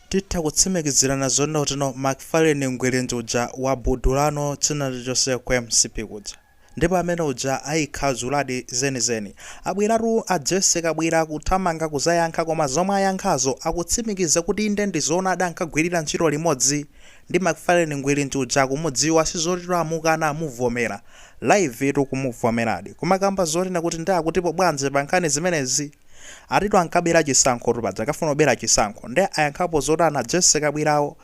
Titha kutsimikizirana zoona kutino Macfarlane Ngwirinji uja wabudulano china chilichonse ku mcp kuja ndipo amene uja ayikhazuladi zeni zeni abweratu a Jesse kabwira kuthamanga kuzayankha koma zomwe ayankhazo akutsimikiza kuti inde ndizoonadi ankagwirira ntchito limodzi ndi Macfarlane Ngwirinji uja akumudziwa sizotito amukana amuvomera live tu kumuvomeradi kumakamba zonena kuti nde akutipo bwanji pankhani zimenezi Atitu ankabera chisankhotu paja akafuna kubera chisankho nde ayankhapo zotani a Jessy Kabwirawo?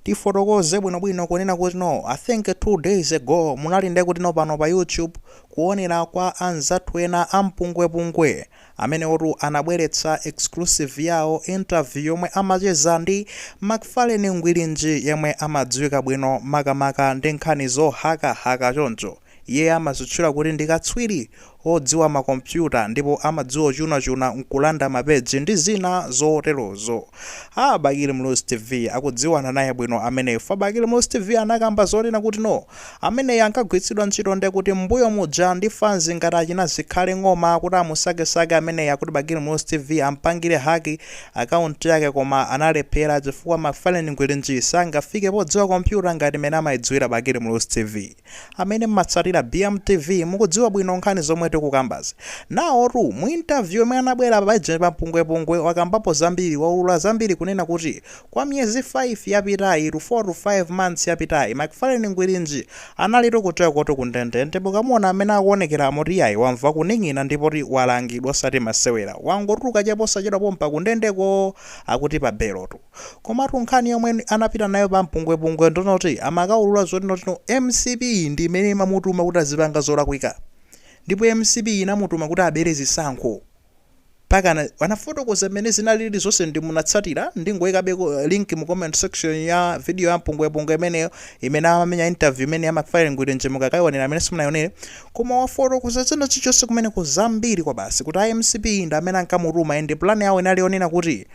Tifotokoze bwinobwino kunena kuti no, I think 2 days ago munali nde kuti no pano pa YouTube munaonera kwa anzathu ena a mpungwepungwe. Amenewotu anabweretsa exclusive yawo interview yomwe amacheza ndi MacFarlane Ngwirinji yemwe amadziwika bwino makamaka ndi nkhani zohakahaka choncho. Iye amazitchula kuti ndi katswiri odziwa ma kompyuta ndipo amadziwa ochunachuna nkulanda ma page ndi zina zoterozo. Aaa Bakili Muluzi TV akudziwana naye bwino ameneyu chifukwa Bakili Muluzi TV anakamba zonena kuti no ameneyi ankagwiritsidwa ntchito nde kuti mmbuyo muja ndi fans ngati achina Zikhale Ng'oma kuti amusakesake ameneyi akuti Bakili Muluzi TV ampangire hack account yake koma analephera chifukwa Macfarlane Ngwirinji sangafike podziwa kompyuta ngati mene amayidziwira Bakili Muluzi TV. amene mmatsatira BM TV mukudziwa bwino nkhani zomwe tikukambazi. Nawotu mu interview yomwe anabwera paja pa Mpungwepungwe wakambapo zambiri, waulula zambiri kunena kuti kwa miyezi 5 yapitayi to 4 to 5 months yapitayi McFarlane Ngwirinji analitu kutchekotu ku ndende ndipo ukamuona mmene akuonekera moti iyayi wamva kuning'ina ndipoti walangidwa osati masewera wangotuluka chaposachedwa pompa kundendeko akuti pa belotu. Komatu nkhani yomwe anapita nayo pa mpungwepungwe ndi yoti amakaulula zoti noti mcp ndi imene imamutuma kuti azipanga zolakwika ndipo mcp inamutuma kuti abere zisankho pakana anafotokoza mmene zinalili zonse nde munatsatira ndingoikabeko link mu comment section ya video ya mpungwepungwe imeneyo imene amamenya interview imene ya McFarlane Ngwirinji mukakaionera amene simunaionere koma wafotokoza china chilichonse kumeneko zambiri kwabasi kuti a mcp ndi amene ankamutuma and plan yawo inali yonena kuti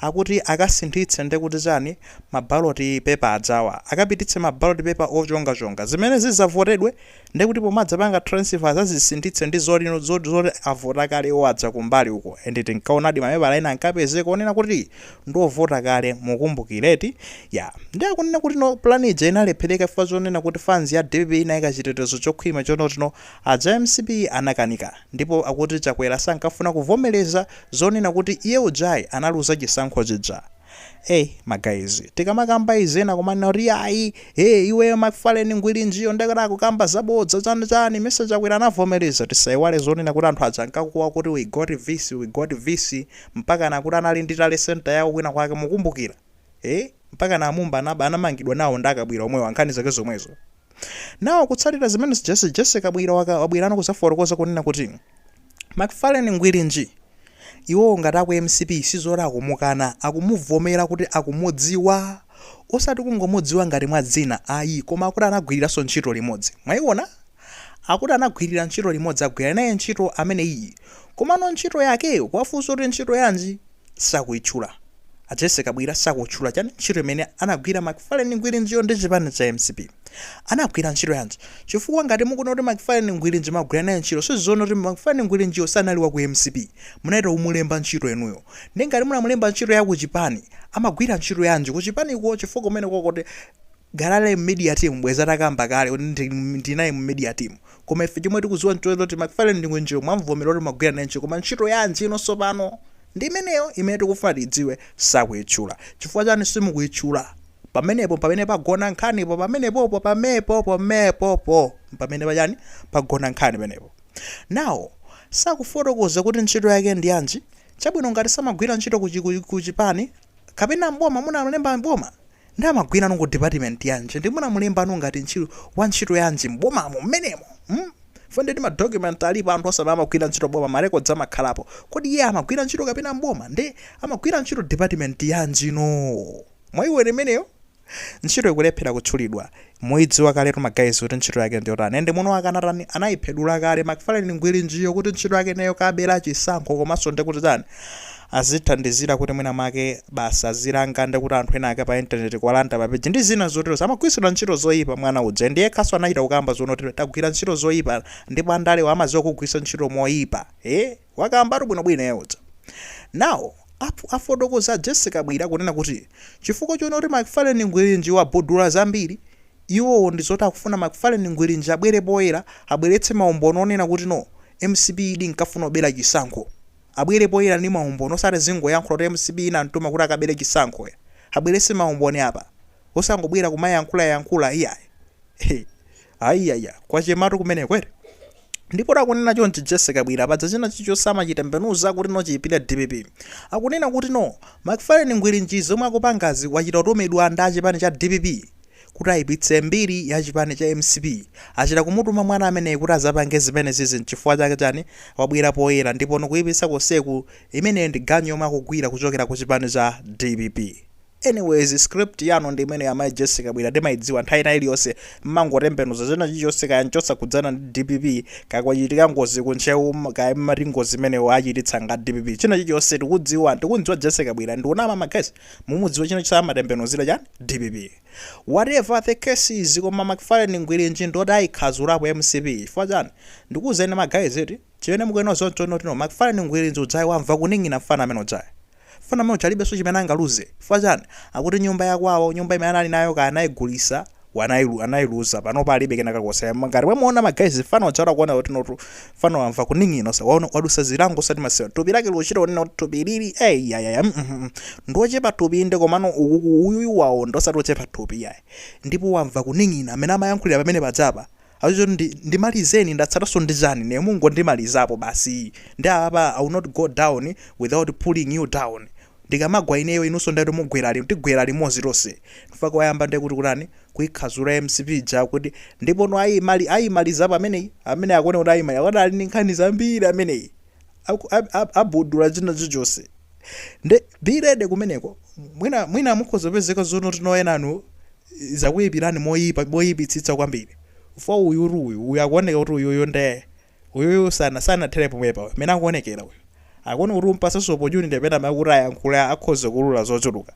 akuti akasinthitse nde kuti chani ma ballot paper ajawa akapititse ma ballot paper ochonga chonga zimene zizavotedwe nde kuti pomadzapanga transfer azazisinthitse ndi zoti zoti avota kale iwo aja kumbali uko and tinkaonadi mapepala ena ankapezeka onena kuti ndiovota kale mukukumbukira eti ya nde akunena kuti no plan ija inalephereka chifukwa chonena kuti fans ya dpp inayika chitetezo chokhwima chonotino aja mcp anakanika Ndipo akuti Chakwera sankafuna kuvomereza zonena kuti iye ujayi analuza chisankho chija. Eee ma guys, tikamakamba izi ena kumanena kuti iyayi, ee iwe McFarlane Ngwirinjiyo ndakuti akukamba zabodza chani chani, mesa Chakwera anavomereza? Tisaiwale zonena kuti anthu aja ankakuwa kuti we got vc, we got vc mpakana akuti anali ndi tale centre yawo kwina kwake, mukumbukira? ee mpakana amumba anamba anamangidwa nawo ndi a Kabwira omwewa nkhani zake zomwezo now kutsatira zimene jesse jesse kabwira wa wabwirano kuzafotokoza kunena kuti mcfarlane ngwirinji iwowo ngati aku mcp sizoti akumukana akumuvomera kuti akumudziwa osati kungomudziwa ngati mwa dzina ayi koma akuti anagwiriranso ntchito limodzi mwaiona akuti anagwirira ntchito limodzi agwira naye ntchito ameneyiyi komano ntchito yakeyo kuwafunsa kuti ntchito yanji sakuitchula. A Jessy Kabwira sakutchula chani, ntchito imene anagwira Macfarlane Ngwirinjiyo ndi chipani cha mcp? Anagwira ntchito yanji? Chifukwa ngati mukunena kuti Macfarlane Ngwirinji mwagwira naye ntchito sizoona kuti Macfarlane Ngwirinjiyo sanali wa ku mcp. Munachita kumulemba ntchito inuyo. Ndiye ngati munamulemba ntchito ya kuchipani, amagwira ntchito yanji kuchipaniko chifukwa kumenekoko kukhala Media Team bwezi atakamba kale ndinali mu media team. Koma ife chomwe tikudziwa n'choti McFarlane Ngwirinjiyo mwamuvomera kuti mwagwira naye ntchito koma ntchito yanji? Inotu tsopano ndi imeneyo imene tikufuna tiidziwe sakuitchula. Chifukwa chani simukuitchula? Pamenepo mpamene pagona nkhanipo pamenepopo pamepo pomepopo mpamene pachani pagona nkhani penepo. Now sakufotokoza kuti ntchito yake ndi yanji? Chabwino ngati samagwira ntchito ku chipani kapena m'boma munamulemba m'boma? Nde amagwirano ku department yanji? Nde munamulemba inu ngati ntchito, wa ntchito yanji m'bomamo m'menemo? Hmm? Chifukwa ndetu ma document alipo anthu akamagwira ntchito m'boma ma records amakhalapo. Kodi iye amagwira ntchito kapena m'boma? Nde amagwira ntchito department yanji no? Mwaiona imeneyo? Ntchito ikulephera kutchulidwa. Muidziwa kaletu ma guys kuti ntchito yake ndiyotani and mwini wake anatani anaiphedula kale McFarlane Ngwirinjiyo kuti ntchito yake neyo kubera chisankho komanso ndekuti tani azithandizira kuti mwina mwake basi azilanga ndekuti anthu ena ake pa internet kuwalanda pa page ndi zina zotero amagwiritsidwa ntchito zoyipa mwana uja ndiye yekhanso anachita kukamba zonena kuti tagwira ntchito zoyipa ndipo andalewa amaziwa kugwiritsa ntchito moyipa eh Wakambatu bwino bwino iye uja. Now, afotokoza Jessie Kabwira kunena kuti chifukwa choona kuti McFarlane Ngwirinji wabhudula zambiri, iwowo ndi zoti akufuna McFarlane Ngwirinji abwere poyera abweretse maumboni onena kuti no, mcp idi inkafuna kubera chisankho. Abwere poyera ndi maumboni osati azingoyankhula kuti mcp inamtuma kuti akabere chisankho ayi. Abweretse maumboni apa. Osangobwera kumayankhula yankhula iyayi. He. Ayaya, kwachematu kumeneku eti? Ndipo akunena chonchi Jesse Kabwira padza china chilichonse amachitembenuza kuti no chiipire dpp. Akunena kuti no, McFarlane Ngwirinji zomwe akupangazi wachita kutumidwa ndi achipani cha dpp kuti aipitse mbiri ya chipani cha mcp. Achita kumutuma mwana ameneyi kuti azapange zimene zizi nchifukwa chake chani wabwera poyera ndipo nokuipitsa konseku imeneyo ndi ganyu yomwe akugwira kuchokera kuchipani cha dpp. Anyways script yanu ndi imeneyo amayi Jessie Kabwira timaidziwa nthawi ina iliyonse mmangotembenuza china chilichonse kaya nchosakhudzana ndi dpp kaya kwachitika ngozi ku Ntcheu mm, kaya mmati ngozi imeneyo achititsa nga dpp china chilichonse tikudziwa tikumdziwa Jessie Kabwira ndi wonama ma guys mumudziwa china chilichonse amatembenuzira chani dpp whatever the case is koma McFarlane Ngwirinji ndoti ayikhazulapo mcp chifukwa chani ndikuwuzeni ma guys eti chimene mukuyenera zonotino McFarlane Ngwirinji ujayi wamva kuning'ina mfana amene ujayi Mfana amene uja alibenso chimene angaluze. Chifukwa chani? Akuti nyumba ya kwawo, nyumba imene anali nayo kaya anayigulisa, anailuza, panopa alibe kena kalikonse. Ngati mwamuona ma guys mfana uja uchita kuona kuti notu mfana wamva kuning'ina osati waona wadusa zilango osati masewa. Tupi lake likuchita kunena kuti tupi ilili eh yayaya mm mm mm. Ndi ochepa tupi inde komano ukuku uyuyu waonda osati ochepa tupi yayi. Ndipo wamva kuning'ina amene amayankhulira pamene pajapa Azizitu ndi ndimalizeni ndatsalaso ndi chani ine mungondimalizapo basi nde apapa i will not go down without pulling you down ndikamagwa ineyo inuso ndi mugwera lim tigwera limozi tose chifukwa wayamba nde kuti kutani kuikhazula mcp ija kuti ndipono ayimali ayimalizapo pameneyi amene akuoneka kuti aimaliza akadali ndi nkhani zambiri ameneyi aku- ab- ab- abudula china chilichonse nde bilede kumeneko mwina mwina mukhoza kupezeka zonotino enanu zakuyipirani moyipa moyipitsitsa kwambiri ifuwa uyu uti uyu uyu akuoneka kuti uyuyu nde uyuyu sana sanathere pomwepa mene akuonekera uyu akuoneka kuti utampasanso opportunity pena pake kuti ayankhule akhoza kuulula zochuluka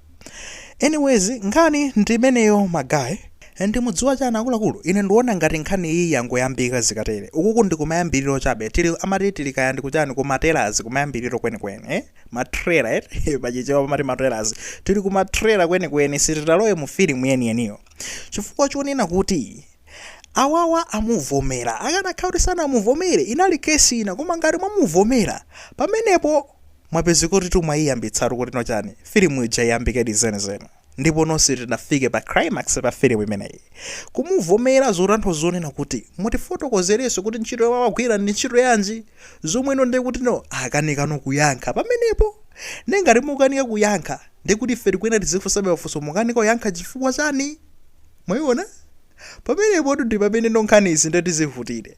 Anyways nkhani ndi imeneyo ma guy. And mudziwa chani akuluakulu? Ine ndiona ngati nkhani iyi yangoyambika zikatere. Ukuku ndi kumayambiliro chabe. Tili amati tili kaya ndi kuchani ku matelazi kumayambiliro kwenikweni eh? Ma trailer eti? pa chichewa pamati matelazi. Tili ku ma trailer kwenikweni sitinalowe mu filimu yeniyeniyo. Chifukwa chonena kuti awawa amuvomera. Akanakhala kuti sanamuvomere inali case ina koma ngati mwamuvomera pamenepo. mwapezeka kuti tu mwaiyambitsatu kuti no chani filimu ija iyambikedi zenizeni ndipo nonse sitinafike pa climax pa filimu imeneyi kumuvomera zotanthauza zonena kuti mutifotokozerenso kuti ntchito yomwe amagwira ndi ntchito yanji zomwe no ndiye kutino akanikano kuyankha pamenepo ndiye ngati mukanika kuyankha ndiye kuti ife tikuyenera tizifunsabe mafunso mukanika kuyankha chifukwa chani mwayiona pamenepo ndi pamene no nkhanizi ndiye tizivutire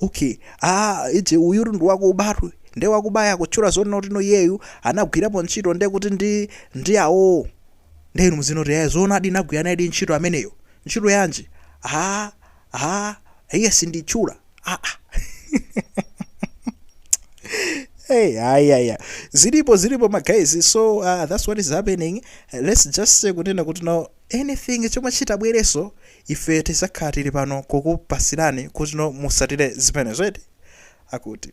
Okay aa ije uyutu ndi wakuba uyu nde wakubaya kutchula zonena kuti no iyeyu anagwirapo ntchito nde kuti ndi ndi awo nde inu muziona kuti eh zoonadi nagwira nayedi ntchito ameneyo ntchito yanji aa aa iyayi sinditchula aa Hey, yeah, yeah, yeah. Zilipo, zilipo, my guys. So uh, that's what is happening. Uh, let's just say, kunena kuti no anything chomwe chitabwereso ife tizakhala tili pano kukupasirani kuti no musatire zimenezo eti? akuti.